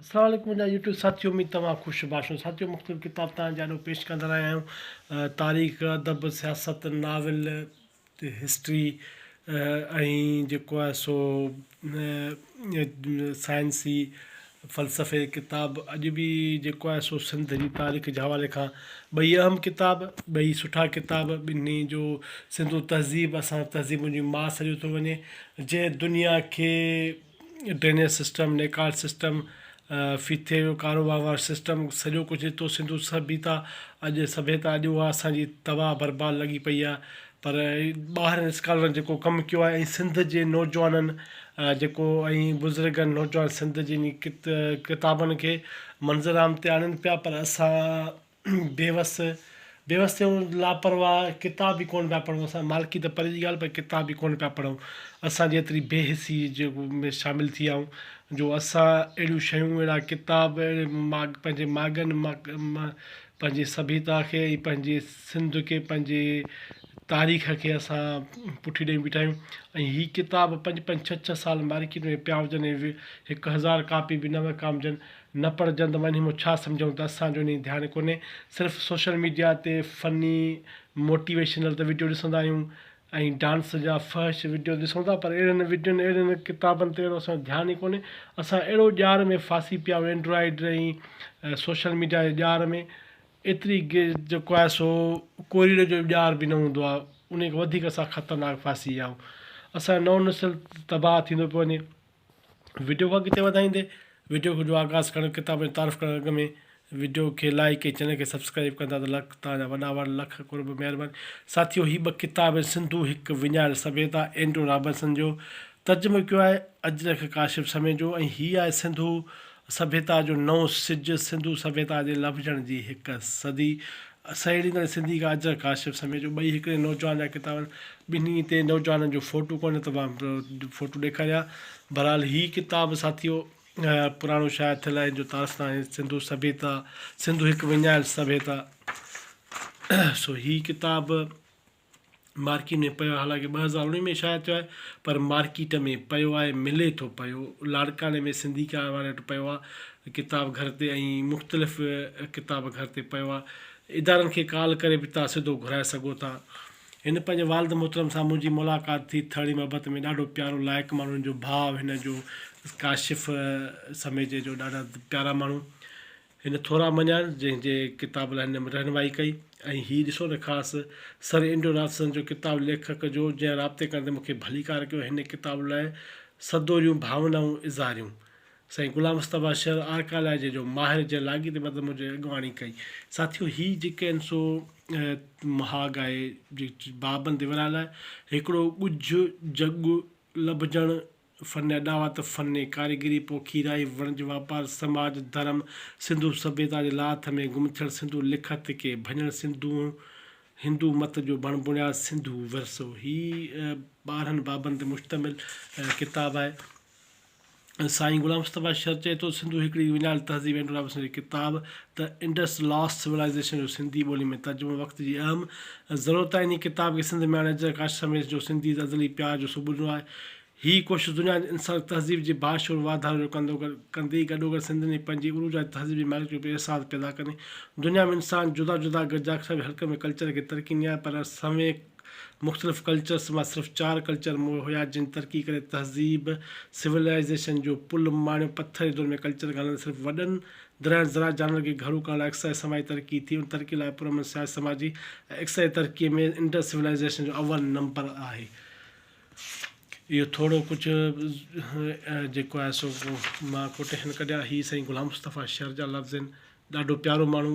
السلام عليڪم منهنجا يوٽيوب ساٿيو اميد توهان خوش باش هون ساٿيو مختلف ڪتاب توهان جي آڏو پيش ڪندا رهيا آهيون تاريخ ادب سياست ناول هسٽري ۽ جيڪو آهي سو سائنسي فلسفي جي ڪتاب اڄ بي جيڪو آهي سو سنڌ جي تاريخ جي حوالي کان ٻئي اهم ڪتاب ٻئي سٺا ڪتاب ٻنهي جو سنڌو تهذيب اسان تهذيبن جي ماس سڏيو ٿو وڃي جنهن دنيا کي ڊرينيج سسٽم، نيڪال سسٽم، ڦٿي جو ڪارو وهنوار سسٽم سڄو ڪجهه ريتو سنڌو سڀيتا اڄ سڀيتا اڄ اها اسان جي تباهه برباد لڳي پئي آهي پر ٻاهرين اسڪالرن جيڪو ڪم ڪيو آهي ۽ سنڌ جي نوجوانن جيڪو ۽ بزرگن نوجوان سنڌ جي ڪتابن کي منظر عام تي آڻين پيا پر اسان بيوس، بيوس ٿيون، لاپرواهه، ڪتاب به ڪونه پيا پڙهون اسان، مالڪي ته پري جي ڳالهه پر ڪتاب به ڪونه پيا پڙهون، اسان جي ايتري بي حسي جي ۾ شامل ٿي آئون جو اسان اهڙيون شيون اهڙا ڪتاب اهڙي ماڳ پنهنجي ماڳن مان پنهنجي سڀيتا کي ۽ پنهنجي سنڌ کي پنهنجي تاريخ کي اسان پٺي ڏئي بيٺا آهيون ۽ هي ڪتاب پنج پنج ڇهه ڇهه سال مارڪيٽ ۾ پيا هجن ۽ هڪ هزار ڪاپي به نه وڪامجن نه پر جند وڃ همو ڇا سمجهون ته اسان جو انهي ڌيان ڪونهي صرف سوشل ميڊيا تي فني موٽيويشنل ته وڊيو ڏسندا آهيون ۽ ڊانس جا فحش وڊيو ڏسون ٿا پر اهڙين وڊيون اهڙين ڪتابن تي اهڙو اسان جو ڌيان ئي ڪونهي اسان اهڙو ڄار ۾ ڦاسي پيا آهيون اينڊرائيڊ ۽ سوشل ميڊيا جي ڄار ۾ ايتري گي جيڪو آهي سو ڪوريڊ جو ڄار به نه هوندو آهي انهي کان وڌيڪ اسان خطرناڪ ڦاسي ويا آهيون اسان جو نئون نسل تباهه ٿيندو پيو وڃي وڊيو کي اڳتي وڌائيندي وڊيو کي جو آغاز ڪرڻ ڪتاب جي تعارف ڪرڻ اڳ ۾ وڊيو کي لائيڪ ۽ چينل کي سبسڪرائيب ڪندا ته لک توهان جا وڏا وڙ لک قرب مهرباني ساٿيو هي ٻه ڪتاب آهن سنڌو هڪ وڃايل سڀيتا اينڊرو رابرسن جو ترجمو ڪيو آهي اجرڪ ڪاشف سميجو ۽ هي آهي سنڌو سڀيتا جو نئون سج سنڌو سڀيتا جي لڀجڻ جي هڪ صدي سهيڙيندڙ سنڌي کان اجهر ڪاشف سميجو ٻئي هڪڙي نوجوان جا ڪتاب آهن ٻنهي تي نوجوانن جو فوٽو ڪونهي ته مان فوٽو ڏيکاريان بهرحال هي ڪتاب ساٿيو پراڻو شايع ٿيل آهن جو تعارف ناهي سنڌو سڀيتا سنڌو هڪ وڃايل سڀيتا سو هي ڪتاب مارڪيٽ ۾ پيو آهي حالانڪ ٻه هزار اوڻيهه ۾ شايع ٿيو آهي پر مارڪيٽ ۾ پيو آهي ملي ٿو پيو لاڙڪاڻي ۾ سنڌي ڪار واري وٽ پيو آهي ڪتاب گهر تي ۽ مختلف ڪتاب گهر تي پيو آهي ادارن کي ڪال ڪري به تان سڌو گهرائي سگهو ٿا هن پنهنجي والد محترم سان منهنجي ملاقات ٿي ٿڙي محبت ۾ ڏاڍو پيارو لائق ماڻهن جو ڀاء هن جو ڪاشف سميجي جو ڏاڍا پيارا ماڻهو هن ٿورا مڃيان، جنهن جي ڪتاب لاء هن رهنمائي ڪئي ۽ هي ڏسو نه خاص سر اينڊرو رابسن جو ڪتاب ليکڪ جو جنهن رابطي ڪرڻ تي مون کي ڀليڪار ڪيو ۽ هن ڪتاب لاء سدوريون ڀاونائون اظهاريون. سائين غلام مصطفيٰ شر آرڪالاجيء جو ماهر جنهن لاڳيتي مطلب منهنجي اڳواڻي ڪئي. ساٿيو! هي جيڪي آهن سو مهاڳ آهي. بابن دي ورهاء لاء هڪڙو ڳجهه جڳ لڀجڻ فن اڏاوت، فن ڪاريگري، پوکيرائي، وڻج واپار، سماج، ڌرم، سنڌو سڀيتا جي لاٿ ۾ گم ٿيل سنڌو لکت کي ڀڃڻ سنڌو هندو مت جو بڻ بڻياد سنڌو ورثو هي ٻارهن بابن تي مشتمل ڪتاب آهي سائين غلام مصطفيٰ شر چئي ٿو سنڌو هڪڙي وڃايل تهذيب اينڊورا وسنجي ڪتاب ته انڊس لاسٽ سولائيزيشن جو سنڌي ٻولي ۾ ترجمو وقت جي اهم ضرورت آهي. انهي ڪتاب کي سنڌ ميان اجهر ڪاشف سميت جو سنڌي تي ازلي پيار جو ثبوت ڏنو آهي. هي ڪوشش دنيا جي انساني تهذيب جي باشعور واڌاري جو ڪندو ڪندي گڏوگڏ سنڌين جي پنهنجي عروج واري تهذيب جي مالڪيت جو پڻ احساس پيدا ڪندي. دنيا ۾ انسان جدا جدا گڏجاکڙ ۾ هلڪن ۾ ڪلچر کي ترقي ڏني آهي پر سوين مختلف ڪلچرس مان صرف چار ڪلچر مون هيا جن ترقي ڪري تهذيب سولائيزيشن جو پل ماڻيو پٿر جي دور ۾ ڪلچر کان هلندي صرف وڏن گرهن زراعت جانورن کي گهرو ڪرڻ لاء اقتصادي سماجي ترقي ٿي، ان ترقي لاء پرامن سياسي سماجي ۽ اقتصادي ترقي ۾ انڊس سولائيزيشن جو اول نمبر آهي. اهو ٿورو ڪجهه جيڪو آهي سو مان ڪوٽيشن ڪڍيا هي سائين غلام مصطفيٰ شر جا لفظ آهن. ڏاڍو پيارو ماڻهو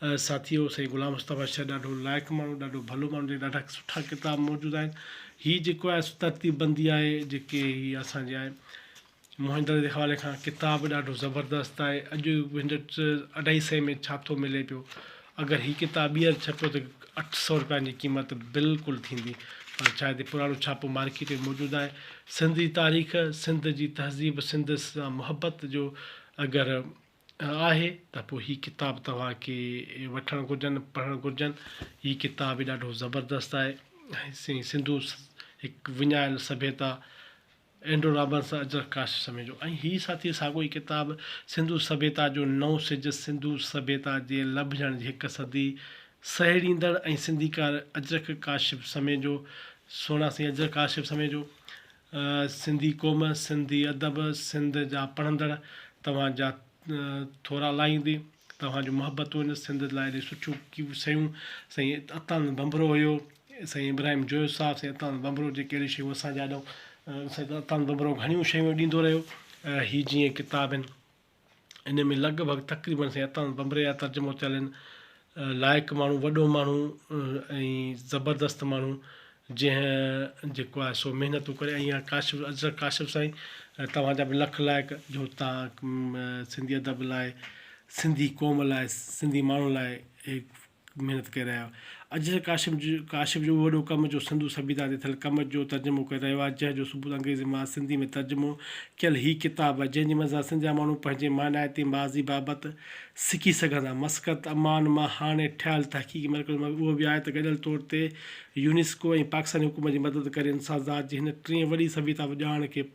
ساٿيو سائين غلام مصطفيٰ شاهه ڏاڍو لائق ماڻهو ڏاڍو ڀلو ماڻهو جنهن ڏاڍا سٺا ڪتاب موجود آهن هي جيڪو آهي سو ترتيب بندي آهي جيڪي هي اسان جي آهي موهن دڙي جي حوالي کان ڪتاب ڏاڍو زبردست آهي اڄ هن اڍائي سئي ۾ ڇا ٿو ملي پيو اگر هي ڪتاب ٻيهر ڇپيو ته اٺ سؤ روپين جي قيمت بلڪل ٿيندي پر شايد هي پراڻو ڇاپو مارڪيٽ ۾ موجود آهي سنڌ جي تاريخ سنڌ جي تهذيب سنڌ سان محبت جو اگر آهي ته پوء هي ڪتاب توهان کي وٺڻ گهرجن پڙهڻ گهرجن هي ڪتاب به ڏاڍو زبردست آهي سين سنڌو هڪ وڃايل سڀيتا اينڊرو رابنس اجرڪ ڪاشف سميجو ۽ هي ساٿي ساڳو ئي ڪتاب سنڌو سڀيتا جو نئون سج سنڌو سڀيتا جي لڀجڻ جي هڪ صدي سهيڙيندڙ ۽ سنڌيڪار اجرڪ ڪاشف سميجو سهڻا سين اجرڪ ڪاشف سميجو سنڌي قوم، سنڌي ادب، سنڌ جا پڙهندڙ توهان جا ٿورا لاهيندي. توهان جون محبتون سنڌ لاء ايڏيون سٺيون ڪيون شيون سائين عطاند ڀنڀرو هيو سائين ابراهيم جويو صاحب سائين عطاند ڀنڀرو جيڪي اهڙيون شيون اسان جي آڏو سائين عطاند ڀنڀرو گهڻيون شيون ڏيندو رهيو هي جيئن ڪتاب آهن ان ۾ لڳ ڀڳ تقريبن سائين عطاء ڀنڀري جا ترجمو ٿيل آهن. لائق ماڻهو، وڏو ماڻهو ۽ زبردست ماڻهو جنهن جيڪو آهي سو محنتون ڪري ۽ اها ڪاشف اجرڪ ڪاشف سائين توهان جا به لک لائق جو تان سنڌي ادب لاء سنڌي قوم لاء سنڌي ماڻهن لاء محنت ڪري رهيا آهيو. اجهر ڪاشف جو ڪاشف جو اهو وڏو ڪم جو سنڌو سڀيتا تي ٿيل ڪم جو ترجمو ڪري رهيو آهي جنهن جو ثبوت انگريزي مان سنڌي ۾ ترجمو ڪيل هي ڪتاب آهي جنهن جي منزان سنڌ جا ماڻهو پنهنجي مانائتي ماضي بابت سکي سگهن ٿا مسقط امان مان هاڻي ٺهيل تحقيقي مرڪز مان اهو به آهي ته گڏيل طور تي يونيسڪو ۽ پاڪستاني حڪومت جي مدد ڪري انسان ذات جي هن ٽين وڏي سڀيتا ڄاڻ کي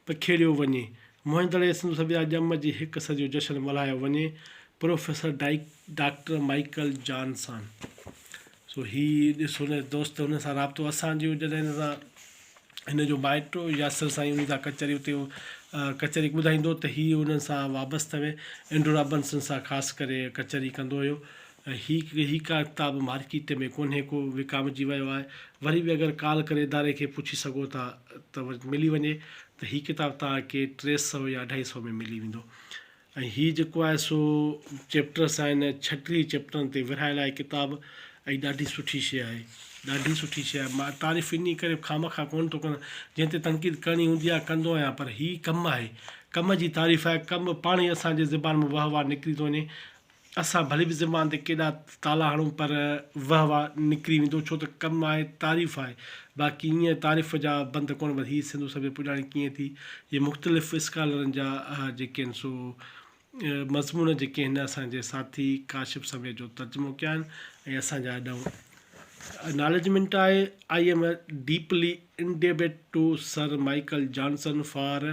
پکيڙيو وڃي موهن دڙي سنڌو سڀيتا جي ڄم جي هڪ صدي جو جشن ملهايو وڃي پروفيسر ڊائيڪ ڊاڪٽر مائيڪل جانسان سو هي ڏسو نه دوست هن سان رابطو اسان جو جڏهن هن سان هن جو مائٽ هو ياسر سائين هن سان ڪچهري اتي هو ڪچهري ٻڌائيندو ته هي هنن سان وابسته هئي اينڊرو رابنسن سان خاص ڪري ڪچهري ڪندو هيو ۽ هي هي ڪا ڪتاب مارڪيٽ ۾ ڪونهي ڪو وڪامجي ويو آهي وري به اگر ڪال ڪري اداري کي پڇي سگهو ٿا ته ملي وڃي ته هي ڪتاب تهان کي ٽي سو يا اڍائي سو ۾ ملي ويندو ۽ هي جيڪو آهي سو چيپٽرس آهن ڇٽيهه ئي چيپٽرن تي ورهايل آهي ڪتاب ۽ ڏاڍي سٺي شيء آهي ڏاڍي سٺي شيء آهي مان تعريف انهي ڪري خامخواه ڪونه ٿو ڪريان جنهن تي تنقيد ڪرڻي هوندي آهي ڪندو آهيان پر هي ڪم آهي ڪم جي تعريف آهي ڪم پاڻهي اسان جي زبان مان واهه واهه نڪري ٿو وڃي اسان ڀلي به زبان تي ڪيڏا تالا هڻون پر وهه واه نڪري ويندو ڇو ته ڪم آهي تعريف آهي باقي ائين تعريف جا بند ڪونه بس هي سنڌو سڀيئي پڄاڻي ڪيئن ٿي جي مختلف اسڪالرن جا جيڪي آهن سو مضمون جيڪي آهن اسان جي ساٿي ڪاشف سميت جو ترجمو ڪيا آهن ۽ اسان جا اڏائون نالجمنٽ آهي I am deeply indebted to Sir Michael Johnson for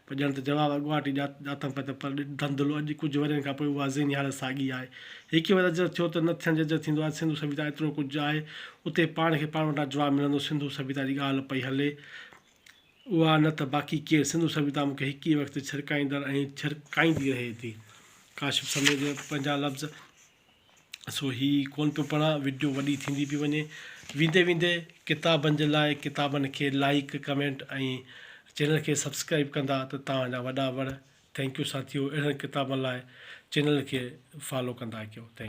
پر ڄڻ ته جواب اڳواٽ ئي ڄاتم پئي ته پر ڏڍ ڌنڌلو اڄ ڪجهه ورهين کان پوء اها ذهني حالت ساڳي آهي. هيء ڪيئن وڌجر ٿيو ته نه ٿيڻ ججر ٿيندو آهي. سنڌو سڀيتا ايترو ڪجهه آهي. اتي پاڻ کي پاڻ وٽان جواب ملندو. سنڌو سڀيتا جي ڳالهه پئي هلي اها نه ته باقي ڪير. سنڌو سڀيتا مون کي هڪ ئي وقت ڇرڪائيندڙ ۽ ڇرڪائيندي رهي ٿي. ڪاشف سميجو پنهنجا لفظ سو هي ڪونه پيو پڙهان وڊيو وڏي ٿيندي پئي وڃي ويندي ويندي ڪتابن جي لاء ڪتابن کي لائيڪ ڪمينٽ ۽ چينل کي سبسڪرائيب ڪندا ته توهان جا وڏا وڙ ٿينڪ يو ساٿيو اهڙن ڪتابن لاء چينل کي فالو ڪندا ڪيو ٿينڪ